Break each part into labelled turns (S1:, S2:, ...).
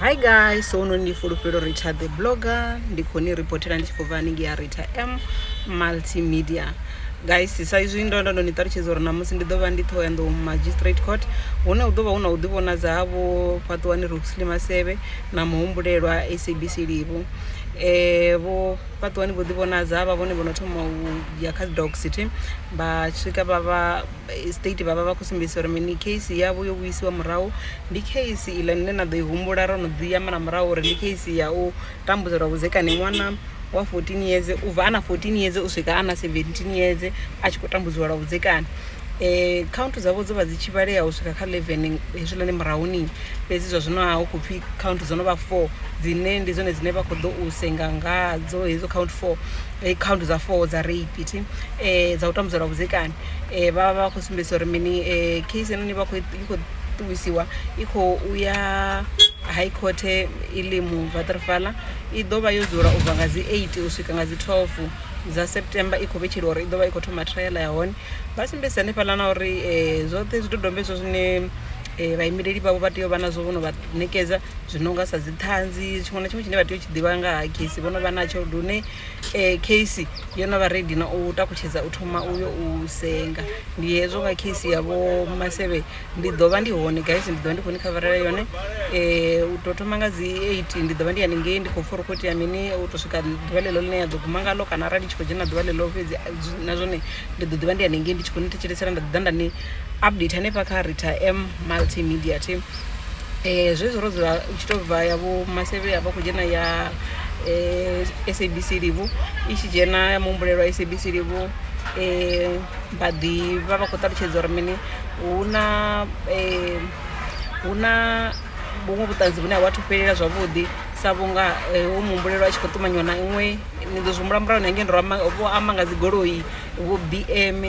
S1: hi guys so uno ndi fulufhelo rita the blogger ndi khou ni reportela ndi tshi khou bva haningei ya rita m multimedia guys sa izwi ndo ndo ndo ni ṱalutshedza uri namusi ndi ḓo vha ndi ṱhoho ya nḓou magistrate court hune hu ḓo vha hu na u ḓivhonadza ha vho fhaṱuwani ruxley masevhe na muhumbulelwa sabc livo um eh, vho fhaṱuwani vho ḓivhonadza vha vhone vho no thoma u ya kha doc city vha swika vha vha eh, state vha vha vha khou sumbedzisa uri mini case yavho yo vhuyisiwa murahu ndi case iḽa nne na ḓo i humbula ro no ḓi amba na murahu uri ndi case ya u tambudzelwa vhudzekani ṅwana wa 14 years u bva a na 14 years u swika a na 17 years a tshi khou tambudziwa lwa vhudzekani eh count dzavho dzo vha dzi tshi vhalea u swika kha 11 hezwiḽani murahuni fhedzi zwa zwino ha hu khou pfhi count dzo no vha 4 dzine ndi dzone dzine vha khou ḓo u senga ngadzo hedzo count 4 eh, count dza 4 dza rape thi eh dza u tambudzela vhudzekani um vha vha vha khou sumbedzisa uri mini um case heinoni vha i khou ṱuwisiwa i khou uya high court ilimu vatrfala i ḓo vha yo dzula u bva nga dzi eight u swika nga dzi twelve dza september i khou vhetsheliwa uri i ḓo vha i khou thoma trial ya hone vha sumbedzisa hanefhaḽa na uri um zwoṱhe zwidodombedzwa zwine um vhaimeleli vhavho vha tea u vha nazwo vho no vha ṋekedza zwi no nga sa dzi ṱhanzi tshiṅwe na tshiṅwe tshine vha tea u tshi ḓivha nga ha case vho no vha natsho lune eh, case yo no vha redi na u takutshedza u thoma uyo u senga ndi hezwo nga case ya vho masevhe ndi ḓo vha ndi hone guys ndi ḓo vha ndi khou ni khavarela yone um u tou thoma nga dzi eight ndi ḓo vha ndi haningei ndi khou pfa uri khou itea mini u tou swika ḓuvha ḽeḽo ḽine ya ḓo guma ngalo kana arali ndi tshi khou dzhena ḓuvha ḽeḽo fhedzi a- zwi- na zwone ndi ḓo ḓi vha ndi haningei ndi tshi khou ni thetshelesela nda ḓi ḓa nda ni update hanefha kha rita m multimedia team um zwezwi ro dzula u tshi tou bva ya vho masevhe ya vha khou dzhena ya um sabc livhu i tshi dzhena ya muhumbulelwa sabc livhu um vha ḓi vha vha khou ṱalutshedza uri mini hu na um hu na vhuṅwe vhuṱanzi vhune ha vha thu fhelela zwavhuḓi sa vhunga hu muhumbulelwa a tshi khou ṱumanyiwa na iṅwe ni ḓo zwi humbula murahu na ngei ndo vho amba nga dzigoloi vho bm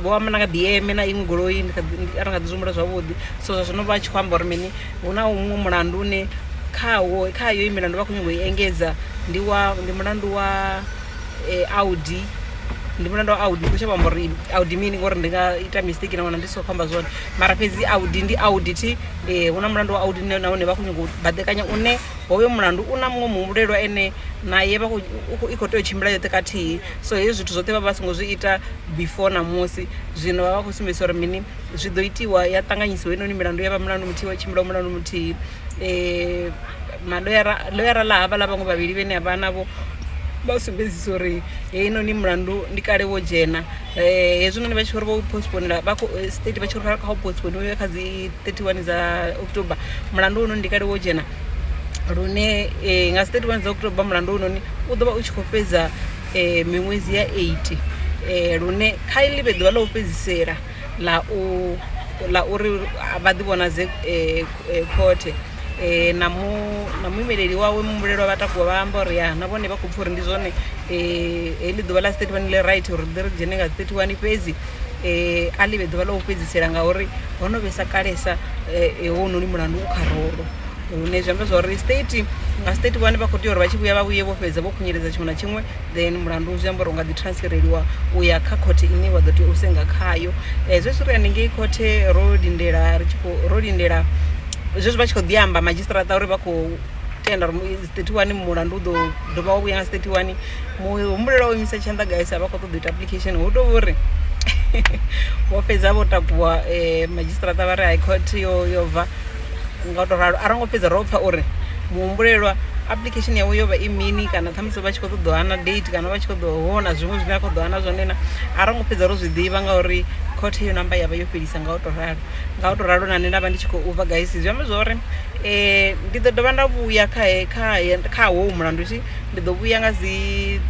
S1: vho amba nanga bm na iṅwe goloi ndi a ri nga ḓi zwihumbula zwavhuḓi so zwa zwino vha tshi khou amba uri mini hu na huṅwe mulandu une khawo kha yo i milandu vha khou nyanga u i engedza ndi wa ndi mulandu wa eh, audi ndi mulandu wa audi ndi khou shavha amba uri audi mini ngori ndi nga ita mistake na wana ndi so khou amba zwone mara fhedzi audi ndi audi thi um hu na mulandu wa audi nahone vha khou nyanga u baḓekanya une hoyo mulandu u na muṅwe muhumbulelwa ene naye i khou tea u tshimbila yoṱhe kathihi so hezwi zwithu zwoṱhe vha vha songo zwi ita before na musi zwino vha vha khou sumbedzisa uri mini zwi ḓo itiwa ya ṱanganyisiwa inoni milandu ya vha mulandu muthihi wa tshimbila mulandu muthihi um eh, maloyara loyara ḽa havha ḽa vhaṅwe vhavhili vhene a vha navho vha sumbedzisa uri heinoni mulandu ndi kale wo dzhena um eh, hezwinoni vha tshi uri vho postponela vha eh, state vha tshi uri kha u postponiwe kha dzi 31 dza october mulandu hounoni ndi kale wo dzhena lune um nga dzi thirty one dza October mulandu hounoni u ḓo vha u tshi khou fhedza um miṅwedzi ya eight um lune kha i ḽi vhe ḓuvha ḽa u fhedzisela ḽa u ḽa uri vha ḓi vhonadze um khothe um na mu na muimeleli wawe muhumbulelwa vha takuwa vha amba uri ya na vhone vha khou pfha uri ndi zwone um heḽi ḓuvha ḽa dzi thirty one ḽi right uri ri ḓi ri dzhene nga dzi thirty one fhedzi. Eh, a ḽi vhe ḓuvha ḽa u fhedzisela ngauri ho no vhesa kalesa eh, eh, hounoni mulandu u kha rolo hune zwi amba zwa uri state nga state vhane vha khou tea uri vha tshi vhuya vha vhuye vho fhedza vho khunyeledza tshiṅwe na tshiṅwe then mulandu zwi amba uri u nga ḓi transfereliwa u ya kha khothe ine wa ḓo tea u senga khayo um zwezwi ri hanengei khothe ro lindela ri tshi khou ro lindela zwezwi vha tshi khou ḓi amba madzhisiṱaraṱa uri vha khou tenda uri 31 mulandu u ḓo dovha wa vhuya nga 31 muhumbulelo wa u imisa tshanḓa guys a vha khou ṱoḓa ita application hu tou vhori vho fhedza vho takuwa um eh, madzhisiṱiraṱa vha ri high court yo yo bva nga u tou ralo a ro ngo fhedza ro pfha uri muhumbulelwa application yawe yo vha i mini kana ṱhamusi vha tshi khou ṱoḓa hana date kana vha tshi khou ṱoḓa hona zwiṅwe zwine a khou ḓa hana zwone na a ro ngo fhedza ro zwi ḓivha ngauri khothe yo namba ya vha yo fhelisa nga u tou ralo nga u tou ralo na nṋe nda vha ndi tshi khou bva gaisi zwi amba zwa uri um ndi ḓo dovha nda vhuya kha kha kha howu mulandu thi ndi ḓo vhuya nga dzi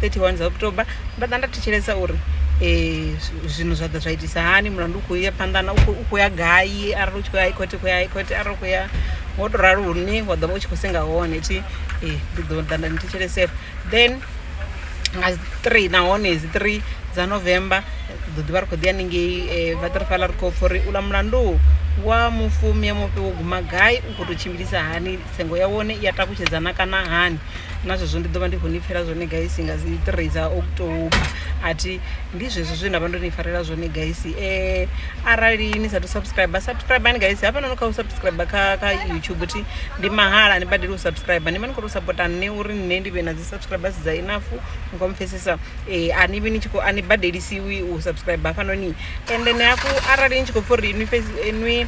S1: 31 dza october nda ḓa nda thetshelesa uri um zwino zwa ḓa zwa itisa hani mulandu u khou ya phanḓa na u khou ya gai arali u tshi khou ya haikhothe khou ya haikhothe arali u khou ya ngo to ralo hune wa ḓo vha u tshi khou senga hone thi ndi ḓo ḓa nda ni thetshelesesa then nga three nahone dzi three dza november ḓo ḓivha ri khou ḓi haningei um eh, vatrifala ri khou pfha uri u ḽa mulandu wa mufumi ya mufhe wo guma gai u khou tou tshimbilisa hani tsengo ya wone i ya takutshedzana kana hani na zwezwo ndi ḓo vha ndi khou ni pfhela zwone gaisi nga dzi three dza october a thi ndi zwezwo zwe nda vha ndo ni farela zwone gaisi um eh, arali ni sathu subscribe subscribe ni gaisi hafha nono kha u subscribe kha kha youtube thi ndi mahala ni badeli u subscribe ni khou tou sapota nṋe uri nṋe ndi vhe na dzi subscribers dza enough ni khou mpfhesesa um a ni vhi ni tshi khou a ni badelisiwi u subscribe hafhanoni and then hafhu arali ni tshi khou pfha uri inwi fhedzi inwi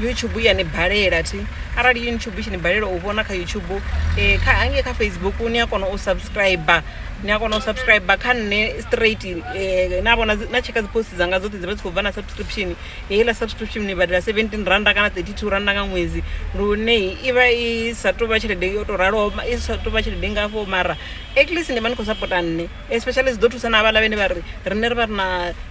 S1: youtube ya ni balela thi arali youtube tshi ni balela u vhona kha youtube um kha hangei kha facebook ni a kona u subscriber ni a kona u subscriber kha nṋe straight um na vhona na tsheka dzi post dzanga dzoṱhe dzi vha dzi khou bva na subscription heiḽa subscription ni badela 17 randa kana 32 randa nga ṅwedzi lune i vha i sa tou vha tshelede yo tou raloho i sa tou vha tshelede ngafho mara at least ni vha ni khou sapota nṋe especially zwi ḓo thusa na havhaḽa vhene vha ri rine ri vha ri na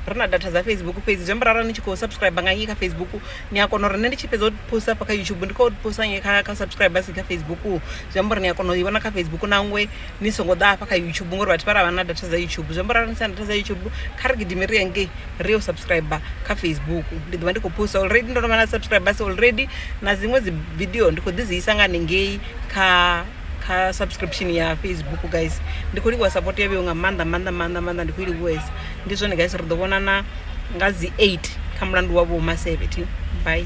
S1: ri na data dza facebook fhedzi zwi amba rara ni tshi khou subscribe nga ngei kha facebook ni a kona uri nṋe ndi tshi fhedza u posta hafha kha youtube ndi khou posta ngei kha kha subscribe si kha facebook zwi amba uri ni a kona u i vhona kha facebook nangwe ni songo ḓa hafha kha youtube ngori vhathu vha ra vha na data dza youtube zwi amba uri ni sina data dza youtube kha ri gidime ri yangei ri yo subscribe kha facebook ndi ḓo vha ndi khou posta already ndo no vha na subscribers already na dziṅwe dzi video ndi khou ḓi dzi isa nga hanengei kha kha subscription ya facebook guys ndi khou livhuwa support ya vheo nga maanḓa maanḓa maanḓa maanḓa ndi khou i livhuwesa ndi zwone guys ri ḓo vhonana nga dzi 8 kha mulandu wa vho ma 70 bye